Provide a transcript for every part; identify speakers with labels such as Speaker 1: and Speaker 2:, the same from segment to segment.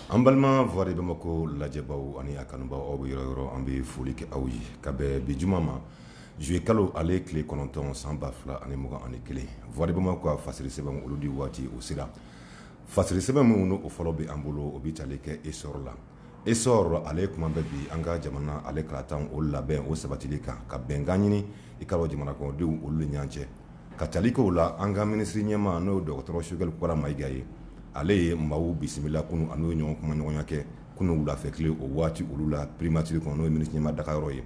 Speaker 1: An balima voix de Bamako lajɛbaaw ani a kanubaaw aw bɛ yɔrɔ o yɔrɔ an bɛ foli kɛ aw ye ka bɛn bi juma ma juillet kalo ale tile kɔnɔntɔn san ba fila ani mugan ani kelen voix de Bamako ka fasiri sɛbɛnw olu di waati o sera fasiri sɛbɛn minnu n'o fɔlɔ bɛ an bolo o bɛ tali kɛ Essor la. Essor ale kuma bɛ bi an ka jamana ale kalataw o labɛn o sabatili kan ka bɛnkan ɲini i k'a dɔn jamana kɔnɔdenw olu ni ɲɔgɔn cɛ ka tali kɛ o la an ka minisiri ɲɛma n'o ye dɔgɔtɔrɔ Sogɛli Kokala Mayiga ye ale ye maaw bisimila kunun a n'u ye ɲɔgɔn kumaɲɔgɔnya kɛ kunun wulafɛ tile o waati olu la primature kɔnɔ n'o ye minisiri ɲɛma dagayɔrɔ ye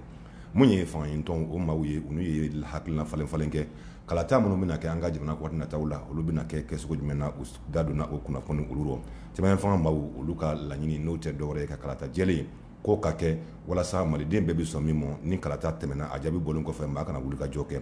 Speaker 1: Mun ye fanga ɲinitɔn o maaw ye u n'u ye hakilina falen falen kɛ kalata minnu bɛna kɛ an ka jamana kɔnɔ waati nataw la olu bɛna kɛ kɛcogo jumɛn na u da donna o kunnafoni olu rɔ cɛmancɛ fanga maaw olu ka laɲini n'o tɛ dɔwɛrɛ ye ka kalata jɛlen k'o ka kɛ walasa maliden bɛɛ bɛ sɔn min ma ni kalata tɛmɛna a jaabi bɔlen kɔfɛ maa kana wulikajɔ kɛ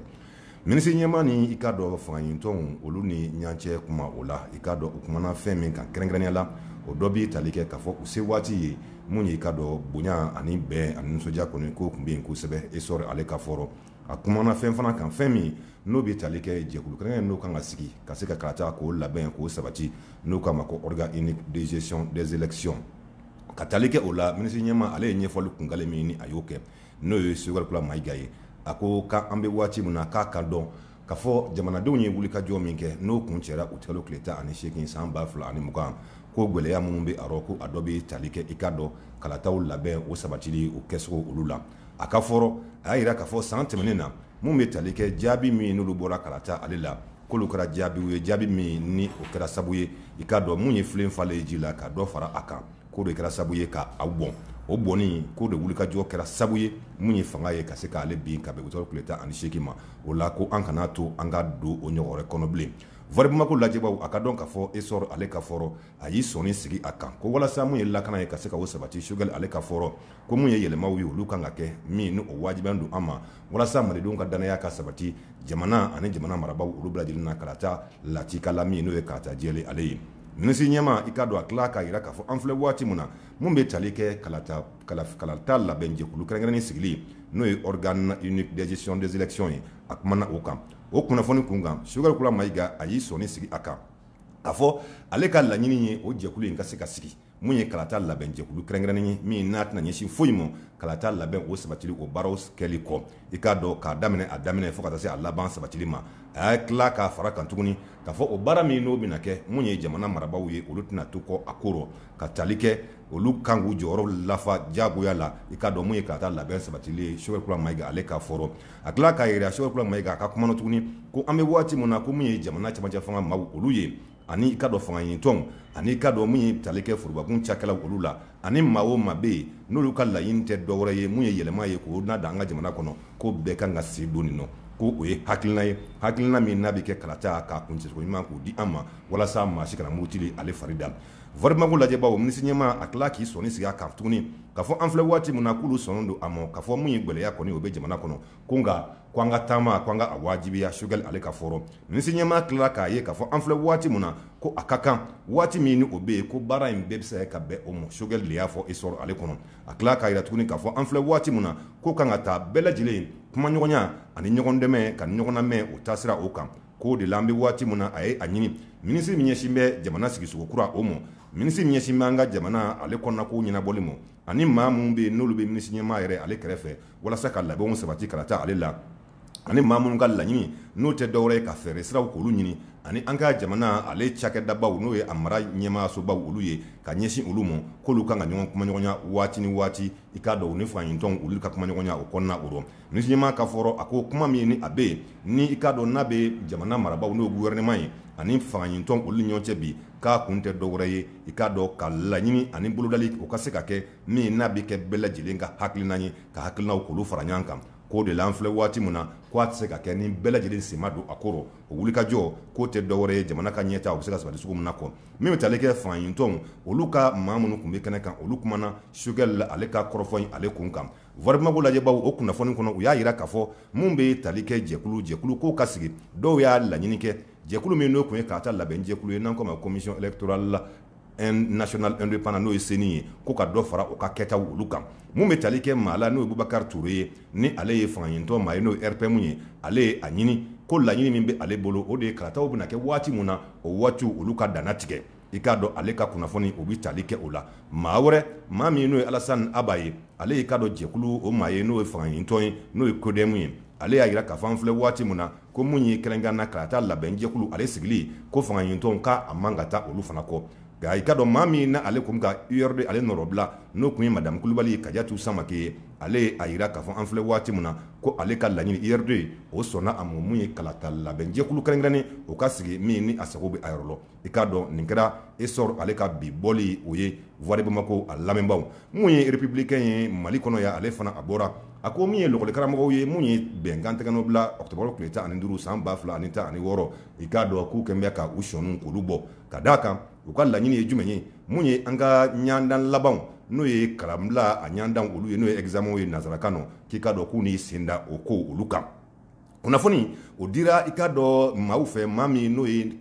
Speaker 1: Minisiri ɲɛma ni i k'a dɔn fangaɲinitɔnw olu ni ɲɔgɔn cɛ kuma o la i k'a dɔn u kumana fɛn min kan kɛrɛnkɛrɛnnenya la o dɔ b'i tali kɛ k'a fɔ u se waati ye min ye i k'a dɔn bonya ani bɛn ani nisɔndiya kɔni k'o tun bɛ yen kosɛbɛ Essor ale ka fɔ rɔ a kumana fɛn fana kan fɛn min n'o bɛ tali kɛ jɛkulu kɛrɛnkɛrɛnnen n'o kan ka sigi ka se ka kalatako labɛn k'o sabati n'u k'a ma ko organe unique de gestion des élections ka tali kɛ o la minisiri ɲɛma ale ye ɲɛfɔli kunkanle min ni a y'o kɛ N'o ye Sogɛli Kokala Mayiga ye, a ko k'an bɛ waati min na k'a ka dɔn k'a fɔ jamanadenw ye wulikajɔ min kɛ n'o kun cɛra Utikalo tile tan ani seegin san ba fila ani mugan, ko gɛlɛya minnu bɛ a rɔ ko a dɔ bɛ tali kɛ i k'a dɔn kalataw labɛn o sabatili o kɛcogo olu la. A ka fɔ rɔ, a y'a jira k'a fɔ san tɛmɛnen na mun bɛ tali kɛ jaabi min n'olu bɔra kalata ale la, k'olu kɛra jaabiw ye jaabi min ni o kɛra sabu ye i k'a dɔn mun ye filen falen ye ji la ka dɔ fara a kan. k'o de kɛra sabu ye ka a bɔn o bɔnni k'o de wulikajɔ kɛra sabu ye min ye fanga ye ka se k'ale bin ka bɛn Utikalo tile tan ani seegin ma o la ko an kana to an ka don o ɲɔgɔn wɛrɛ kɔnɔ bilen voix de Bamako lajɛbaw a k'a dɔn k'a fɔ Essor ale ka fɔ rɔ a y'i sɔɔni sigi a kan ko walasa mun ye lakana ye ka se k'o sabati Sogɛli ale ka fɔ rɔ ko mun ye yɛlɛmaw ye olu kan ka kɛ min ni o wajibiyalen don an ma walasa malidenw ka dannaya ka sabati jamana ani jamana marabagaw olu bɛɛ lajɛlen na kalata lakika la min n'o ye kalata jɛlen ale ye Minisiri ɲɛma i k'a dɔn a tila k'a jira k'a fɔ an filɛ waati min na min bɛ tali kɛ kalata labɛnjɛkulu kɛrɛnkɛrɛnnen sigili n'o ye organe unique de gestion des élections ye a kumana o kan o kunnafoni kun kan Sogɛli Kokala Mayiga a y'i sɔnni sigi a kan k'a fɔ ale ka laɲini ye o jɛkulu in ka se ka sigi Mun ye kalata labɛnjɛkulu kɛrɛnkɛrɛnnen ye min n'a tɛna ɲɛsin foyi ma kalata labɛn o sabatili o baaraw kɛli kɔ i k'a dɔn k'a daminɛ a daminɛ fo ka taa se a laban sabatili ma a y'a tila k'a fara kan tuguni k'a fɔ o baara min n'o bɛna kɛ mun ye jamana marabagaw ye olu tɛna to kɔ a ko rɔ ka tali kɛ olu kan k'u jɔyɔrɔ lafa jagoya la i k'a dɔn mun ye kalata labɛn sabatili ye Sogɛli Kokala Mayiga ale ka fɔ rɔ a tila k'a jira Sogɛli Kokala Mayiga a ka kuma na tuguni ko an bɛ waati min na ko min ye jamana cɛmancɛ fanga maaw olu ye ani i k'a dɔn fanga ɲini tɔnw ani i k'a dɔn min ye tali kɛ forobakun cakɛla olu la ani maa o maa bɛ yen n'olu ka laɲini tɛ dɔwɛrɛ ye mun ye yɛlɛma ye k'o na dan an ka jamana kɔnɔ ko bɛɛ kan ka sen don nin nɔ ko o ye hakilina ye hakilina min n'a bɛ kɛ kalata k'a kuncɛcogo ɲuman k'o di an ma walasa maa si kana murutili ale fari da Voix de Bamako lajɛbaaw minisiri ɲɛmaa a tila k'i sɔnni sigi a kan tuguni k'a fɔ an filɛ waati min na k'olu sɔnnen don a ma k'a fɔ mun ye gɛlɛya kɔni o bɛ jamana kɔnɔ ko nka ko an ka taama ko an ka a wajibiya Sogɛli ale ka fɔ rɔ minisiri ɲɛmaa tilala k'a ye k'a fɔ an filɛ waati min na ko a ka kan waati min ni o bɛ yen ko baara in bɛɛ bɛ se ka bɛn o ma Sogɛli de y'a fɔ Essor ale kɔnɔ a tila k'a jira tuguni k'a fɔ an filɛ waati min na ko kan ka taa bɛɛ lajɛlen kumaɲɔgɔnya ani ɲɔgɔn dɛmɛ ka ɲɔgɔnnamɛn o taasira o kan k'o de la an bɛ waati min na a ye a ɲini minisiri min ɲɛsin bɛ jamana sigisogo kura o ma minisiri min ɲɛsin bɛ an ka jamana ale kɔnɔna ko ɲɛnabɔli ma ani maa minnu bɛ yen n'olu bɛ minisiri ɲɛmaa yɛrɛ ale kɛrɛfɛ walasa ka labɛnw sabati kalata ale la ani maa minnu ka laɲini n'o tɛ dɔwɛrɛ ye ka fɛɛrɛ siraw k'olu ɲini ani an ka jamana ale cakɛdabaw n'o ye a mara ɲɛmaasobaw olu ye ka ɲɛsin olu ma k'olu kan ka ɲɔgɔn kumaɲɔgɔnya waati ni waati i k'a dɔn ni fanga ɲinitɔnw olu ka kumaɲɔgɔnya o kɔnɔna o rɔ minisiri ɲɛmaa ka fɔ rɔ a ko kuma min ni a bɛ yen ni i k'a dɔn n'a bɛ jamana marabaw n'o gouvernement ye ani fanga ɲinitɔnw olu ni ɲɔgɔn cɛ bi k'a kun tɛ dɔwɛrɛ ye i k'a dɔn ka laɲini ani bolodali o ka se ka kɛ min n'a bɛ kɛ bɛɛ lajɛlen ka hakilina ye ka hakilinaw k'olu fara ɲɔgɔn kan k'o de la an filɛ waati min na k'a tɛ se ka kɛ ni bɛɛ lajɛlen sen ma don a ko rɔ o wulikajɔ k'o tɛ dɔwɛrɛ ye jamana ka ɲɛtaa o bɛ se ka sabati cogo min na kɔ min bɛ tali kɛ fanga ɲinitɔnw olu ka maa minnu tun bɛ kɛnɛ kan olu kumana Sogɛli ale ka kɔrɔfɔ in ale kunkan Voix de Bamako lajɛbaw o kunnafoni kɔnɔ u y'a jira k'a fɔ min bɛ tali kɛ jɛkulu jɛkulu k'o ka sigi dɔw y'a laɲini kɛ jɛkulu min n'o tun ye kalata labɛn jɛkulu ye n'an k'o ma commission électorale la nationale indépendante n'o ye CENI ye ko ka dɔ fara o ka kɛtaw olu kan mun bɛ tali kɛ maa la n'o ye Bubakari Ture ye ni ale ye fanga ɲinitɔn maa ye n'o RPM ye ale ye a ɲini ko laɲini min bɛ ale bolo o de ye kalataw bɛna kɛ waati min na o waatiw olu ka danna tigɛ i k'a dɔn ale ka kunnafoni o bɛ tali kɛ o la maa wɛrɛ maa min n'o ye Alasani Aba ye ale y'i k'a dɔn jɛkulu o maa ye n'o ye fanga ɲinitɔn ye n'o ye CODEM ye ale y'a jira k'a fɔ an filɛ waati min na ko mun ye kɛrɛnkɛrɛnna kalata labɛnjɛkulu ale sigili ko fanga ɲinitɔnw k'a man ka taa olu fana kɔ nka i k'a dɔn maa min na ale tun ka URD ale nɔrɔbila n'o tun ye madamu kulubali Kadiatu Samake ye ale ye a jira k'a fɔ an filɛ waati min na ko ale ka laɲini URD o sɔnna a ma mun ye kalata labɛnjɛkulu kɛrɛnkɛrɛnnen o ka sigi min ni a sago bɛ a yɔrɔ i k'a dɔn nin kɛra Essor ale ka bi bɔli o ye Voix de Bamako a lamɛnbaw mun ye Républicain ye mali kɔnɔ yan ale fana a bɔra a ko min ye lakɔli karamɔgɔw ye mun ye bɛnkan tɛgɛnɔbila octobre tile tan ani duuru san ba fila ani tan ani wɔɔrɔ i k'a dɔn k'u kɛlen bɛ ka u sɔninw k'olu bɔ ka d'a kan u ka laɲini ye jumɛn ye mun ye an ka ɲɔndan labanw n'o ye kalanbila a ɲɔndan olu ye n'o ye examen ye nansarakan nɔ k'i k'a dɔn k'u ni sen da o ko olu kan kunnafoni o dira i k'a dɔn maaw fɛ maa min n'o ye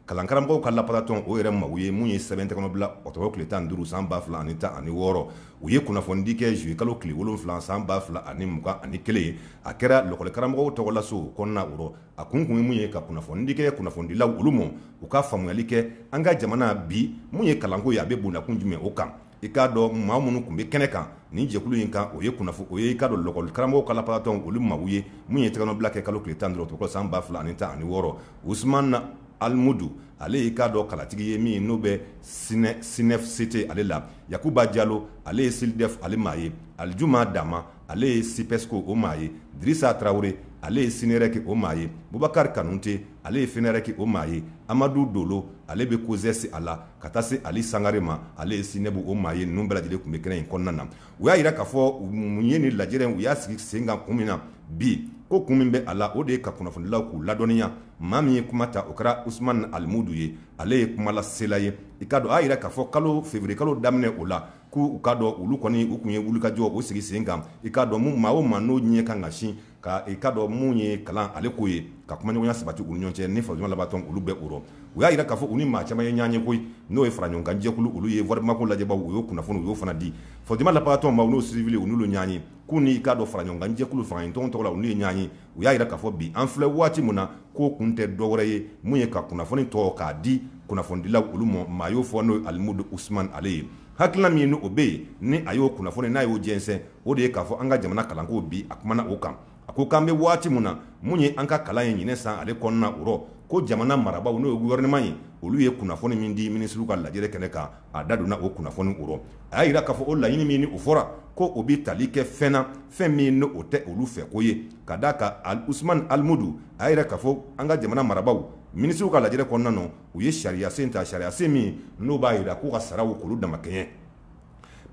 Speaker 1: kalan karamɔgɔw ka lapasatɔn o yɛrɛ maaw ye mun ye sɛbɛn tɛgɛnɔ bila ɔkutɔburu tile tan duuru san ba fila ani tan ani wɔɔrɔ u ye kunnafonidi kɛ zuye kalo tile wolonfila san ba fila ani mugan ani kelen a kɛra lɔkɔli karamɔgɔw tɔgɔlaso kɔnɔna o rɔ a kun kun ye mun ye ka kunnafonidi kɛ kunnafonidilaw olu ma u ka faamuyali kɛ an ka jamana bi mun ye kalanko ye a bɛ bondakun jumɛn o kan i k'a dɔn maa minnu tun bɛ kɛnɛ kan nin jɛkulu in kan o ye kunnafoni o ye i k'a dɔn lɔkɔli karamɔgɔw ka lapasatɔnw olu maaw ye min ye tɛgɛnɔbila kɛ kalo tile tan duuru san ba fila ani tan ani wɔɔrɔ usumani alimudu ale y'i k'a dɔn kalatigi ye min n'o bɛ SYNEFCT ale la yakuba jalo ale ye SYLDEF ale maa ye alijuma dama ale ye SYPESCO o maa ye dirisa tarawele ale ye sinɛrɛki o maa ye bubakari kanute ale ye FENAREC o maa ye amadu dolo ale bɛ COSES a la ka taa se ali sangare ma ale ye SYNEB o maa ye ninnu bɛɛ lajɛlen tun bɛ kɛnɛ in kɔnɔna na u y'a jira k'a fɔ mun ye nin lajɛrɛ u y'a sigi sen kan kun min na bi ko kun min bɛ a la o de ye ka kunnafonilaw k'u ladɔnniya maa min ye kuma ta o kɛra usumani alimudu ye ale ye kumalasela ye i k'a dɔn a jira k'a fɔ kalo feburuye kalo daminɛ o la k'u k'a dɔn olu kɔni u tun ye wulikajɔ o sigi sen kan i k'a dɔn maaw ma n'o ɲɛ kan ka sin ka i k'a dɔn mun ye kalan ale ko ye ka kumaɲɔgɔnya sabati u ni ɲɔgɔn cɛ ni fasojama lapasatɔn olu bɛɛ o rɔ u y'a jira k'a fɔ u ni maa caman ye ɲɔgɔn ye koyi n'o ye fara ɲɔgɔnkanjɛkulu olu ye warimago lajɛ u y'o kunnafoni u y'o fana di fasojama lapasatɔn ma n'o siwili u n'u ɲɔgɔn ye k'u ni i k'a dɔn fara ɲɔgɔnkanjɛkulu fangaɲinitɔn tɔgɔ la u ye ɲɔgɔn ye u y'a jira k'a fɔ bi an filɛ waati min na k'o kun tɛ dɔwɛrɛ ye mun ye ka kunnafoni tɔ k'a di kunnafonidilaw olu ma maa y'o fɔ n'o ye alimudu usumani ale ye hakilila min o bɛ yen ni a y'o kunnafoni n'a y'o jɛnsɛn o de ye k'a fɔ an ka jamana kalanko bi a kumana o kan a ko k'an bɛ waati min na mun ye an ka kalan ye ɲinan san ale kɔnɔna o rɔ ko jamana marabaaw n'o ye gɔfɛrɛnaman ye olu ye kunnafoni min di minisiriw ka lajɛrɛ kɛnɛ kan a da donna o kunnafoni o rɔ a y'a jira k'a fɔ o laɲini min ni o fɔra ko o bɛ tali kɛ fɛn na fɛn min n'o tɛ olu fɛko ye ka d'a kan usumani alimudu a y'a jira k'a fɔ an ka jamana marabaaw minisiriw ka lajɛrɛ kɔnɔna na u ye sariyasen ta sariyasen min n'o b'a jira k'u ka saraw k'olu damakɛɲɛ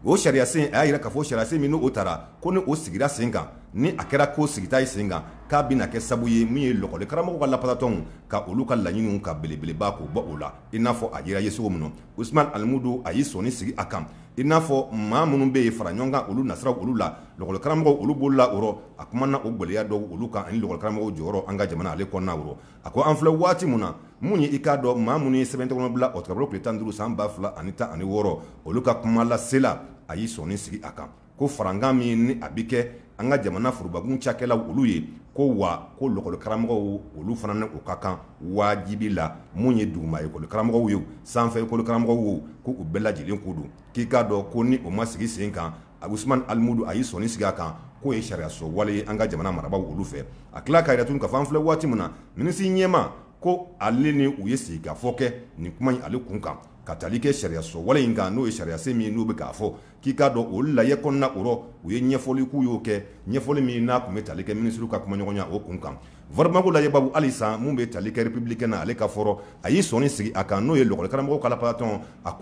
Speaker 1: o sariya sen a y'a jira k'a fɔ sariya sen min n'o tara ko ni o sigira sen kan ni a kɛra ko sigita ye sen kan k'a bɛna kɛ sabu ye min ye lɔkɔli karamɔgɔw ka lapasatɔnw ka olu ka laɲiniw ka belebeleba k'o bɔ o la i n'a fɔ a jira ye cogo min na Usumani Alimudu a y'i sɔnni sigi a kan i n'a fɔ maa minnu bɛ yen fara ɲɔgɔn kan olu nasiraw olu la lɔkɔli karamɔgɔw olu b'olu la o rɔ a kumana o gɛlɛya dɔw olu kan ani lɔkɔli karamɔgɔw jɔyɔrɔ an ka jamana ale kɔnɔna o rɔ a ko an filɛ waati min na mun ye i k'a dɔn maa minnu ye sɛbɛn tɛgɛnɔ bila ɔkutɔburu tile tan duuru san ba fila ani tan ani wɔɔrɔ olu ka kumalasela a y'i sɔnni sigi a kan ko farankan min ni a bɛ kɛ an ka jamana forobakun cakɛlaw olu ye ko wa ko lɔkɔli karamɔgɔw olu fana ni o ka kan wajibi la mun ye duguma ekɔli karamɔgɔw ye sanfɛ ekɔli karamɔgɔw ko u bɛɛ lajɛlen ko don k'i k'a dɔn ko ni o ma sigi sen kan usman alimudu a y'i sɔnni sigi a kan k'o ye sariya sɔsɔ wale ye an ka jamana marabaa olu fɛ a tila k'a jira tuguni k'a fɔ an filɛ waati min na minisiri ɲɛmaa ko ale ni u ye sigikafɔ kɛ nin kuma in ale kun kan ka taali kɛ sariya sɔsɔ wale in kan n'o ye sariya sen min n'u bɛ k'a fɔ k'i k'a dɔn o lajɛ kɔnɔna o rɔ u ye ɲɛfɔli k'u y'o kɛ ɲɛfɔli min n'a tun bɛ taali kɛ minisiw ka kumaɲɔgɔnya o kun kan Voix de Bamako lajɛbaaw halisa min bɛ tali kɛ républicain na ale ka fɔ rɔ a y'i sɔnni sigi a kan n'o ye lakɔlikaramɔgɔw ka lapasatɔn a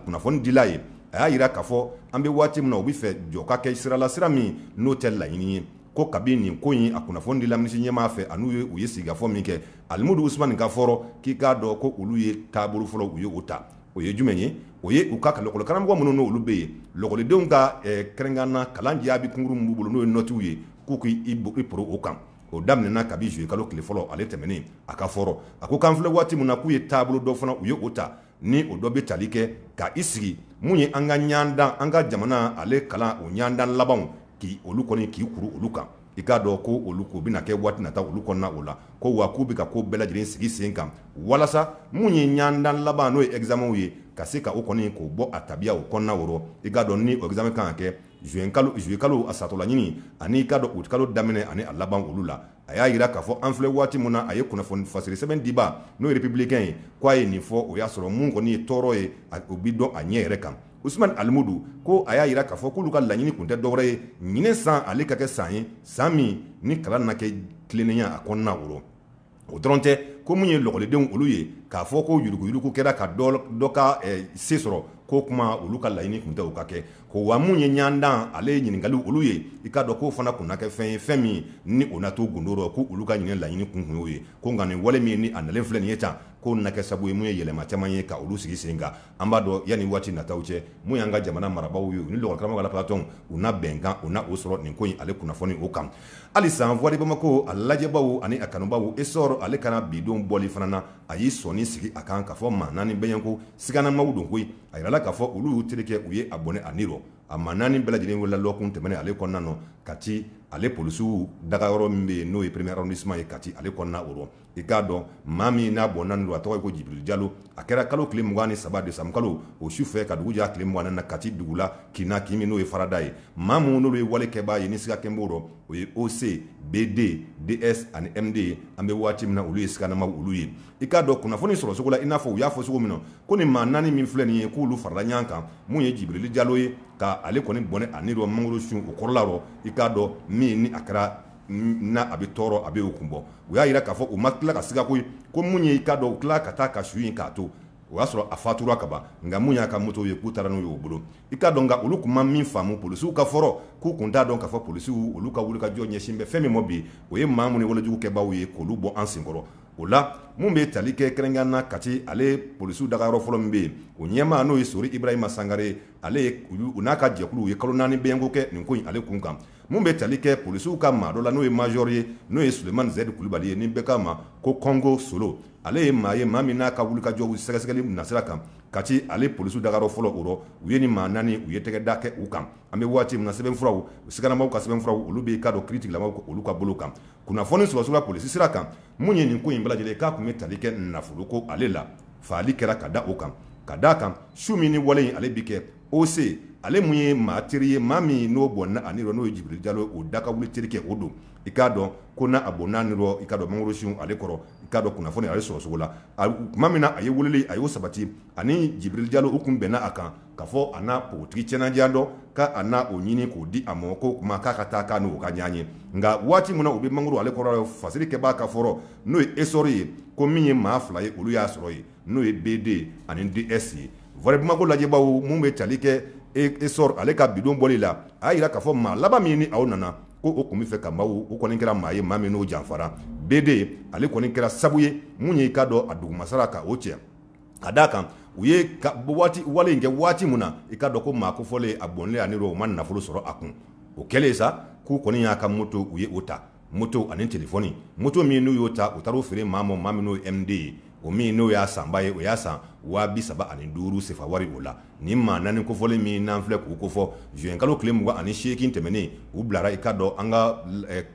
Speaker 1: kunnafonidila ye a y'a jira k'a fɔ an bɛ waati min na u bɛ fɛ jɔ ka kɛ sira la sira min n'o tɛ laɲini ye ko kabi nin ko in a kunnafoni dila minisi ɲɛmaa fɛ ani u ye sigikafɔ min kɛ alimudu usman ka fɔ rɔ k'i k'a dɔn ko olu ye taabolo fɔlɔ u ye o ta o ye jumɛn ye o ye u ka lakɔlikaramɔgɔ minnu n' olu bɛ yen lakɔlidenw ka kɛrɛnkɛrɛnna kalan jaabi kunkurun min b'u bolo n'o ye nɔtiw ye k'u k'i poro o kan o daminɛna kabi zuluyekalo tile fɔlɔ ale tɛmɛnen a ka fɔ rɔ a ko k'an filɛ waati min na k'u ye taabolo dɔ fana u ye o ta ni o dɔ bɛ tali kɛ ka i sigi min ye an ka ɲɔgɔndan an ka jamana ale kalan o ɲɔgɔndan labanw k' olu kɔni k'i kuru olu kan i k'a dɔn ko olu k'u bɛna kɛ waati nata olu kɔnɔna o la ko wa k'u bɛ ka ko bɛɛ lajɛlen sigi sen kan walasa minnu ye ɲɔgɔndan laban n'o ye ɛgizamɛw ye ka se ka o kɔni k'o bɔ a tabiya o kɔnɔna o rɔ i k'a dɔn ni o ɛgizamɛ kan ka kɛ zuluyekalo a satɔla ɲini ani i k'a dɔn utikalo daminɛ ani a laban olu la a y'a jira k'a fɔ an filɛ waati min na a ye kunnafoni fasiri sɛbɛn diba n'o ye républicain ye k'a ye nin fɔ o y'a sɔrɔ min kɔni ye tɔɔrɔ ye o bɛ dɔn a ɲɛ yɛrɛ kan usman alimudu ko a y'a jira k'a fɔ k'olu ka laɲini tun tɛ dɔwɛrɛ ye ɲinan san ale ka kɛ san ye san min ni kalan na kɛ tilennenya a kɔnɔna o rɔ o dɔrɔn tɛ ko minnu ye lakɔlidenw olu ye k'a fɔ ko yuruguyurugu kɛra ka dɔ ka se sɔrɔ k'o tuma olu ka laɲini tun tɛ o ka kɛ ko wa minnu ye ɲɔgɔndan ale ye ɲininkali olu ye i k'a dɔn k'o fana tun na kɛ fɛn ye fɛn min ni o na to gundo rɔ k' olu ka ɲinan laɲini kun tun y'o ye ko nka nin wale min ni a nalen filɛ nin ye tan k'o na kɛ sabu ye mun ye yɛlɛma caman ye ka olu sigi sen kan an b'a dɔn yanni waati nataw cɛ min y'an ka jamana marabagaw ye ni lakɔlikaramɔgɔ lapasatɔn u na bɛnkan u na o sɔrɔ nin ko in ale kunnafoni o kan halisa Voix de Bamako a lajɛbaaw ani a kanubaaw essor ale ka na bi don bɔli fana na a y'i sɔnni sigi a kan k'a fɔ maa naani bɛ yen ko siganamaw don ko in a jirala k'a fɔ olu y'u terikɛ u ye a bɔnɛ a ni rɔ a maa naani bɛɛ lajɛlen welela lɔgɔkun tɛmɛnen ale kɔnɔna na kati ale polisiw dagayɔrɔ min bɛ yen n'o ye premier arrondissement ye kati ale kɔnɔna o i k'a dɔn maa min n'a bɔnɛna a ni rɔ a tɔgɔ ye ko jibirili jalo a kɛra kalo tile mugan ni saba desanburukalo o su fɛ ka dugu jɛ tile mugan ni naani kati dugu la kin na kin min n'o ye farada ye maa minnu n'olu ye wale kɛbaa ye ni siga tun b'o rɔ o ye oc bd ds ani md ye an bɛ waati min na olu ye siganamaw olu ye i k'a dɔn kunnafoni sɔrɔcogo la i n'a fɔ u y'a fɔ cogo min na ko nin maa naani min filɛ nin ye k'olu farala ɲɔgɔn kan mun ye jibirili jalo ye ka ale kɔni bɔnɛ a ni rɔ mangoro sun o kɔrɔla rɔ i k'a dɔn min ni a kɛra n a bɛ tɔɔrɔ a bɛ'o kun bɔ u y'a jira k'a fɔ u ma tila ka siga koyi ko mun ye i k'a dɔn u tila ka taa ka su in k'a to o y'a sɔrɔ a fatura ka ban nka mun y'a ka moto ye k'u taara n'u y'o bolo i k'a dɔn nka olu tun ma min faamu polisiw ka fɔ rɔ k'u tun t'a dɔn ka fɔ polisiw olu ka wulikajɔ ɲɛsin bɛ fɛn min ma bi o ye maa minnu ye walejugu kɛbaaw ye k'olu bɔ an senkɔrɔ o la mun bɛ tali kɛ kɛrɛnkɛrɛnna kati ale polisiw dagayɔrɔ fɔlɔ min bɛ yen o ɲɛmaa n'o ye sori ibrahima sangare ale u n'a ka jɛkuluw ye kalo naani bɛko kɛ nin ko in ale kun kan Mun bɛ tali kɛ polisiw ka maa dɔ la n'o ye major ye n'o ye sulemani zɛdi kulubali ye ni bɛɛ k'a ma ko kongo solo ale ye maa ye maa min n'a ka wulikajɔ sɛgɛsɛgɛli nasira kan kati ale polisiw dagayɔrɔ fɔlɔ o rɔ u ye ni maa naani u ye tɛgɛ da kɛ u kan an bɛ waati min na sɛbɛnfuraw siganamaw ka sɛbɛnfuraw olu bɛ i k'a dɔn kiritigɛlamaw olu ka bolo kan kunnafoni sɔrɔ cogo la polisi sira kan mun ye nin ko in bɛɛ lajɛlen k'a tun bɛ tali kɛ nafolo ko ale la faali kɛra ka da o kan ka d' a kan su min ni wale in ale bɛ kɛ OC ale mun ye maa teri ye maa min n'o bɔnna a ni rɔ n'o ye jibirili jalo o da ka wuli teri kɛ o don i k'a dɔn ko n'a bɔnna a ni rɔ i k'a dɔn mangoro sun ale kɔrɔ i k'a dɔn kunnafoni ale sɔrɔ cogo la tuma min na a ye weleli a y'o sabati ani jibirili jalo u tun bɛnna a kan ka fɔ a na npogotigi cɛɲanin dɔ k'a n'a o ɲini k'o di a ma ko tuma k'a ka taa k'a n'o ka ɲɔgɔn ye nka waati min na u bɛ mangoro ale kɔrɔ fasiri kɛbaa ka fɔ rɔ n'o ye esɔrɔ ye ko min ye maa fila ye olu y'a sɔrɔ yen n'o ye bd ani ds ye voix de bamako lajɛbaaw mun bɛ tali kɛ esɔrɔ ale ka bidon bɔli la a y'a jira k'a fɔ maa laban min ni aw nana ko o tun bɛ fɛ ka maaw u kɔni kɛra maa ye maa min n'o janfara bd ale kɔni kɛra sabu ye mun ye i k'a dɔn a dugumasara ka o cɛ ka d' a kan u ye wale in kɛ waati min na i k'a dɔn ko maa kofɔlen a bɔnlen a ni rɔ u ma nafolo sɔrɔ a kun o kɛlen sa k'u kɔni y'a ka moto u ye o ta moto ani telefɔni moto min n'u y'o ta u taar'o feere maa ma maa min n'o ye md ye o min n'o y'a sanba ye o y'a san waa bi saba ani duuru sefa wari o la ni maa naani kofɔlen min n'an filɛ k'u ko fɔ zuwɛnkalo tile mugan ani seegin tɛmɛnen u bilara i k'a dɔn an ka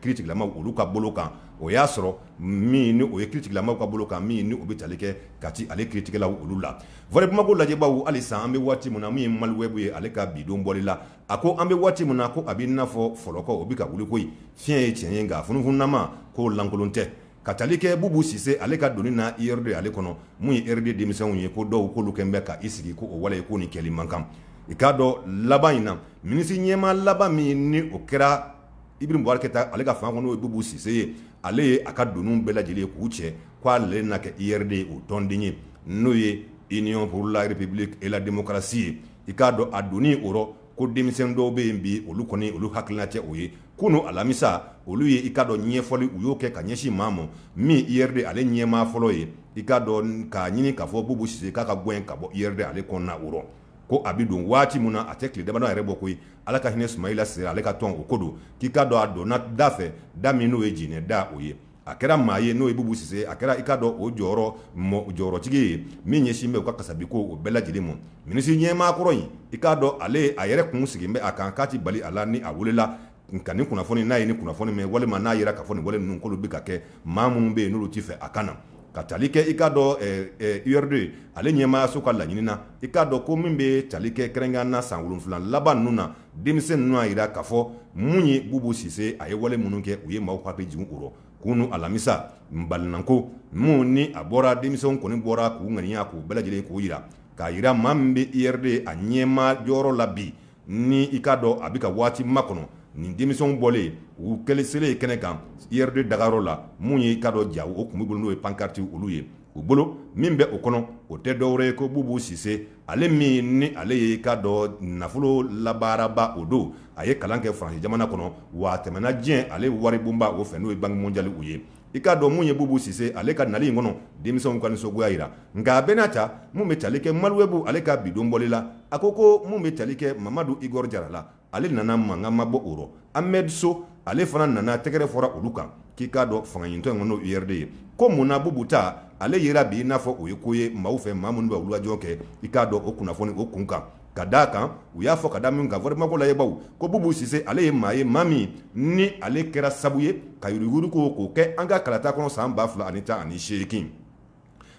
Speaker 1: kiritigɛlamaw olu ka bolo kan o y'a sɔrɔ min ni o ye kiritigɛlamaw ka bolo kan min ni o bɛ tali kɛ kati ale kiritigɛlaw olu la voix de bamako lajɛbaaw halisa an bɛ waati min na min ye maliwɛbu ye ale ka bidon bɔli la a ko an bɛ waati min na ko a bɛ i n'a fɔ fɔlɔkɔ o bɛ ka wuli koyi fiɲɛ ye tiɲɛ ye nka funufununama k'o lankolon tɛ Ka tali kɛ Bubu Sise ale ka donni na URD ale kɔnɔ, mun ye URD denmisɛnw ye ko dɔw k'olu kɛlen bɛ ka i sigi ko o wale ye ko nin kɛli man kan. I k'a dɔn laban in na, minisiri ɲɛmaa laban min ni o kɛra Ibrahim Boubacar Keita ale ka fanga kɔnɔ n'o ye Bubu Sise ye, ale ye a ka doniw bɛɛ lajɛlen ye k'u cɛ ko ale na kɛ URD ye o tɔnden ye, n'o ye Union pour la République et la Démocratie ye. I k'a dɔn a donni o rɔ, ko denmisɛn dɔw bɛ yen bi olu kɔni olu hakilina tɛ o ye kunu alamisa olu ye i k'a dɔn ɲɛfɔli u y'o kɛ ka ɲɛsin maa ma min URD ale ɲɛmaa fɔlɔ ye i k'a dɔn k'a ɲini k'a fɔ bubu sise k'a ka gɛn ka bɔ URD ale kɔnɔna o rɔ ko a bɛ don waati min na a tɛ tile damadɔ yɛrɛ bɔ koyi ala ka hinɛ sumayila sise ale ka tɔn o ko don k'i k'a dɔn a donna da fɛ da min n'o ye jinɛ da o ye a kɛra maa ye n'o ye Bubu Sise ye, a kɛra i k'a dɔn o jɔyɔrɔ mɔ jɔyɔrɔtigi ye min ɲɛsin bɛ u ka kasabiko o bɛɛ lajɛlen mɔ. Minisiri ɲɛmaa kɔrɔ in, i k'a dɔn ale a yɛrɛ kun sigilen bɛ a kan k'a tɛ bali a la ni a welela nka nin kunnafoni n'a ye nin kunnafoni mɛn walima n'a yera k'a fɔ nin wale ninnu k'olu bɛ ka kɛ maa minnu bɛ yen n'olu tɛ fɛ a ka na ka tali kɛ i k'a dɔn ɛɛ URD ale ɲɛmaayaso ka laɲini na i k'a dɔn ko min bɛ tali kɛ kɛrɛnkɛrɛnnenya la san wolonwula laban ninnu na denmisɛn ninnu y'a jira k'a fɔ mun ye bubu sise a ye wale minnu kɛ u ye maaw hakili jigin o rɔ kunu alamisa balinako min ni a bɔra denmisɛnw kɔni bɔra k'u ŋaniya k'u bɛɛ lajɛlen k'o jira k'a jira maa min bɛ URD a ɲɛmaa jɔyɔrɔ la bi ni i k'a dɔn a bɛ ka waati makɔnɔ nin denmisɛnw bɔlen u kɛlɛselen kɛnɛ kan URD dagayɔrɔ la min ye i k'a dɔn ja o tun bɛ bolo n'o ye pankarti olu ye u bolo min bɛ o kɔnɔ o tɛ dɔwɛrɛ ye ko bubu sise ale min ni ale ye i k'a dɔn nafolo labaaraba o don a ye kalan kɛ faransi jamana kɔnɔ wa a tɛmɛna diɲɛ ale waribonba o fɛ n'o ye banque mondiale u ye i k'a dɔn min ye bubu sise ale ka nali in kɔnɔ denmisɛnw ka nisɔngoya jira nka a bɛɛ n'a ta min bɛ tali kɛ maliwɛbu ale ka bi don bɔli la a ko ko min bɛ tali kɛ mamadu igor jara la ale nana mankan ma bɔ o rɔ amɛdi so ale fana nana tɛgɛrɛ fɔra olu kan k'i k'a dɔn fangaɲinitɔn in n'o ye URD ye ko mun na bubu ta ale yera bi i n'a fɔ o ye ko ye maaw fɛ maa minnu bɛ wulikajɔ kɛ i k'a dɔn o kunnafoni o kun kan ka d'a kan u y'a fɔ ka da min kan vraiment ko lajɛbaw ko bubu sise ale ye maa ye maa min ni ale kɛra sabu ye ka yuruguyuruguko kɛ an ka kalata kɔnɔ san ba fila ani tan ani seegin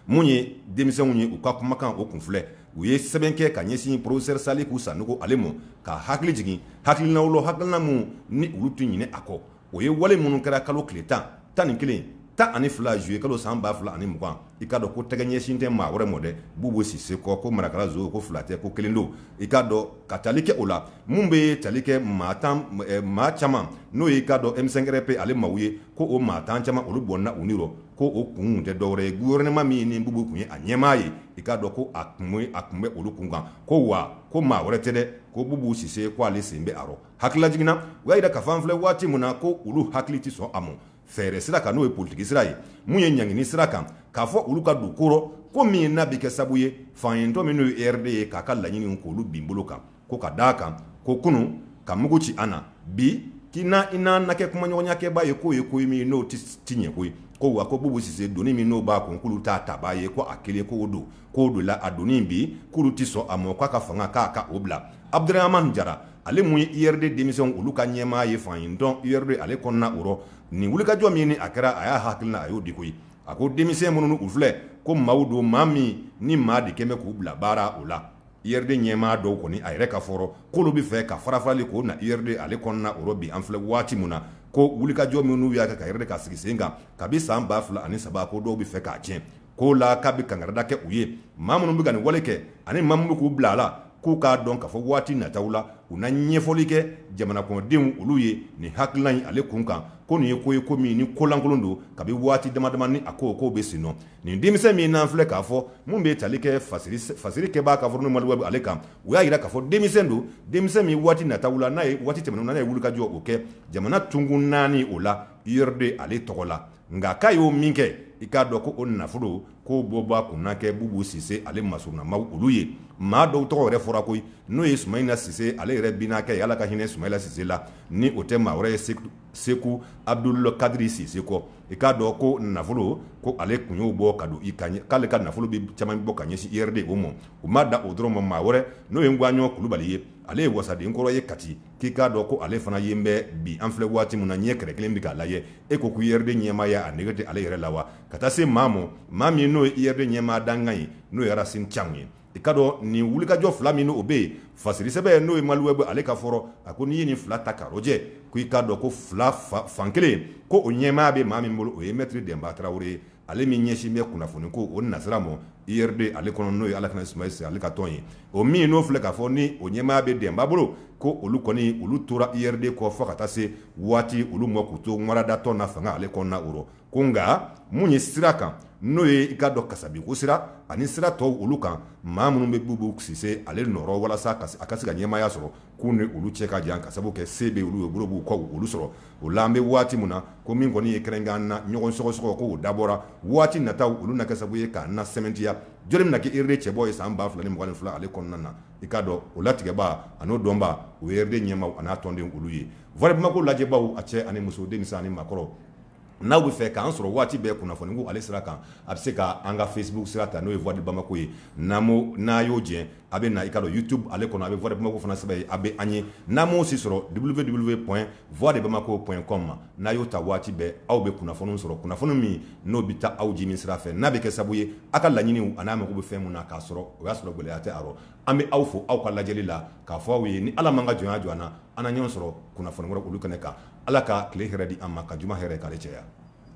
Speaker 1: mun ye denmisɛnw ye u ka kumakan o kun filɛ u ye sɛbɛn kɛ ka ɲɛsin porofesɛri saliku sanɔgɔ ale ma ka hakili jigin hakilinaw la hakilina min ni olu tɛ ɲinɛ a kɔ o ye wale minnu kɛra kalo tile tan tan ni kelen tan ani fila zuye kalo san ba fila ani mugan i k'a dɔn ko tɛgɛ ɲɛsin tɛ maa wɛrɛ mɔ dɛ bubu sise kɔ ko marakala zo ko fila tɛ ko kelen don i k'a dɔn ka tali kɛ o la min bɛ tali kɛ maa caman n'o y'i k'a dɔn M5-RFP ale maaw ye ko o maa tan caman olu bɔnna u ni ko o kun tɛ dɔwɛrɛ ye gouvernement min ni Bubu tun ye a ɲɛmaa ye, i k'a dɔn ko a tun bɛ olu kun kan, ko wa ko maa wɛrɛ tɛ dɛ, ko Bubu Sise ko ale sen bɛ a rɔ. Hakililajigin na, u y'a jira k'a fɔ an filɛ waati min na ko olu hakili tɛ sɔn a mɔ fɛɛrɛ sira kan, n'o ye politiki sira ye, min ye ɲangini sira kan, k'a fɔ olu ka don ko rɔ, ko min n'a bɛ kɛ sabu ye fangaɲinitɔn min n'o ye URD ye k'a ka laɲininw k'olu bin bolo kan. Ko ka d' a kan ko kunun ka mugu ci an na bi k'i na i n'an na kɛ kumaɲɔgɔnyakɛbaa ye k'o ye ko ye min n'o tɛ ɲɛ koyi ko wa ko bubu sise doni min n'o b'a kun k'olu t'a tabaa ye ko a kelen ko don k'o don la a doni bi k'olu tɛ sɔn a ma k'a ka fanga k'a ka o bila abudurahamani jara ale min ye URD denmisɛnw olu ka ɲɛmaa ye faɲitɔn URD ale kɔnɔna o rɔ nin wulikajɔ min ni a kɛra a y'a hakilina a y'o di koyi a ko denmisɛn minnu u filɛ ko maaw don maa min ni maa de kɛmɛ bɛ k'u bila baara o la URD ɲɛmaa dɔw kɔni a yɛrɛ ka fɔrɔ k'olu bɛ fɛ ka farafarali k'o na URD ale kɔnɔna o rɔ bi an filɛ waati min na ko wulikajɔ minnu y'a kɛ ka URD k'a sigi sen kan kabi san ba fila ani saba ko dɔw bɛ fɛ k'a tiɲɛ ko o la k'a bɛ kangarida kɛ u ye maa minnu bɛ ka nin wale kɛ ani maa minnu bɛ k'u bila a la k'u k'a dɔn k'a fɔ waati nataw la u na ɲɛfɔli kɛ jamana kɔnɔdenw olu ye nin hakilina in ale kun kan ko nin ye ko ye ko min ni kolankolon don kabi waati damadama ni a ko k'o bɛ sen nɔ nin denmisɛn min n'an filɛ k'a fɔ min bɛ tali kɛ fasiri kɛbaa ka fɔ maliwɛbu ale kan u y'a jira k'a fɔ denmisɛn don denmisɛn min waati nataw la n'a ye waati tɛmɛnenw na n'a ye wulikajɔ o kɛ jamana tunkun naani o la URD ale tɔgɔ la nka k'a y'o min kɛ i k'a dɔn ko o nafolo k'o bɔbaa kun na kɛ bubu sise ale masurunamaw olu ye maa dɔw tɔgɔ yɛrɛ fɔra koyi n'o ye sumayila sise ale yɛrɛ binakɛ ala ka hinɛ sumayila sise la ni o tɛ maa wɛrɛ ye seku abudul kadiri sise kɔ i k'a dɔn ko nafolo ko ale kun y'o bɔ ka don i ka k'ale ka nafolo bɛ caman bɔ ka ɲɛsin URD o ma u ma da o dɔrɔn ma maa wɛrɛ n'o ye ngwaɲɔ kulubali ye ale ye wasaden kɔrɔ ye kati k'i k'a dɔn ko ale fana ye bɛ bi an filɛ waati min na ɲɛ kɛrɛ kelen bɛ k'a lajɛ e ko ko URD ɲɛmaaya a nege tɛ ale yɛrɛ la wa ka taa se maa ma maa min n'o ye URD ɲɛmaa dankan ye n'o ye rasin camu ye i k'a dɔn nin wulikajɔ fila min o bɛ yen fasiri sɛbɛn n'o ye maliwɛbu ale ka fɔrɔ a ko n'i ye nin fila ta k'a lajɛ ko i k'a dɔn ko fila fan kelen ko o ɲɛmaaya bɛ maa min bolo o ye mɛtiri denba tarawele ye ale min ɲɛsin bɛ kunnafoni ko o nasira ma URD ale kɔnɔ n'o ye ala ka hinɛ sumayila sise ale ka tɔn ye o min n'o filɛ k'a fɔ ni o ɲɛmaaya bɛ denba bolo ko olu kɔni olu tora URD kɔ fɔ ka taa se waati olu ma k'u to waradatɔn na fanga ale kɔnɔna o ko nka mun ye sira kan n'o ye i k'a dɔn kasabiko sira ani sira tɔw olu kan maa minnu bɛ bubu sise ale nɔrɔ walasa a ka se ka ɲɛmaaya sɔrɔ k'u ni olu cɛ ka jan ka sabu kɛ se bɛ olu ye bolo b'u ka olu sɔrɔ o la an bɛ waati min na ko min kɔni ye kɛrɛnkan na ɲɔgɔn sɔgɔsɔgɔ k'o dabɔra waati nataw olu na kɛ sababu ye k'a na sɛmɛntiya jɔni na kɛ URD cɛbɔ ye san ba fila ni mugan ni fila ale kɔnɔna na i k'a dɔn o latigɛbaa n'o dɔnbaa o ye URD ɲɛmaaw ani a tɔnden olu ye voix de bamako lajɛbaw a cɛ ani muso denmisɛnnin ni makɔrɔ N'aw bɛ fɛ k'an sɔrɔ waati bɛɛ kunnafoni ko ale sira kan a bɛ se ka an ka Facebook sira ta n'o ye voix de bamako ye n'a y'o jɛ a bɛ na i ka don YouTube ale kɔnɔ a bɛ voix de bamako fana sɛbɛn yen a bɛ an ye n'a m'o si sɔrɔ www.voixdebamako.com n'a y'o ta waati bɛɛ aw bɛ kunnafoniw sɔrɔ kunnafoni min n'o bɛ taa aw jimi sira fɛ n'a bɛ kɛ sabu ye a ka laɲiniw an'a mago bɛ fɛn min na k'a sɔrɔ o y'a sɔrɔ gɛlɛya tɛ a rɔ an bɛ aw fo aw ka lajɛli la k'a fɔ aw ye ni Ala m'an ka jɔnya jira an na an na ɲɔgɔn sɔrɔ kunnafoni wɛrɛ olu kɛnɛ kan ala ka tile hɛrɛ di an ma ka juma hɛrɛ k'ale caya